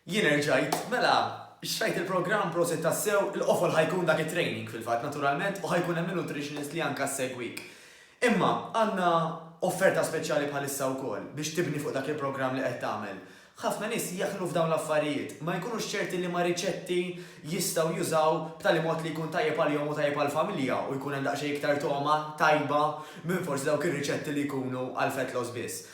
Jien erġajt, mela, xtrajt il-programm, prosit tassew, il-qofol ħa jkun dak it-training fil-fatt naturalment u ħa jkun hemm in-nutritionist li anka ssegwik. Imma għandna offerta speċjali bħalissa wkoll biex tibni fuq dak il-programm li qed tagħmel. Ħafna nies jaħlu f'dawn l-affarijiet, ma jkunux ċerti liema riċetti jistgħu jużaw b'tali mod li jkun tajjeb għalihom u tajjeb għall-familja u jkun hemm daqsxejn iktar togħma tajba minn forsi dawk ir-riċetti li jkunu għall-fat loss biss.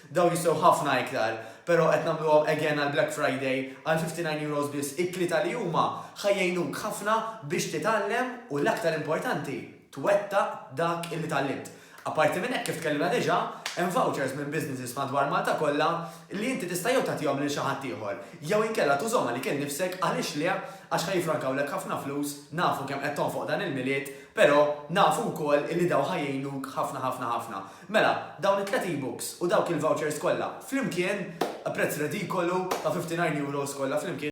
Dawn jistgħu ħafna iktar, pero qed nagħmluhom again għal Black Friday għal €59 biss. It-tlieta li huma ħa jgħinuk ħafna biex titgħallem u l-aktar importanti, twettaq dak illi tgħallimt. Apparti minn hekk kif tkellimna diġà, hemm vouchers minn businesses madwar Malta kollha li inti tista' jew tagħtihom lil xi ħadd ieħor, jew inkella tużhom għalik innifsek għaliex le għax ħa jiffrankawlek ħafna flus, nafu kemm qed tonfoq dan il-Milied, pero nafu wkoll illi dawn ħa jgħinuk ħafna ħafna ħafna. Mela, dawn it-tliet e-books u dawk il-vouchers kollha flimkien, prezz redikolu ta' €59 kollha flimkien,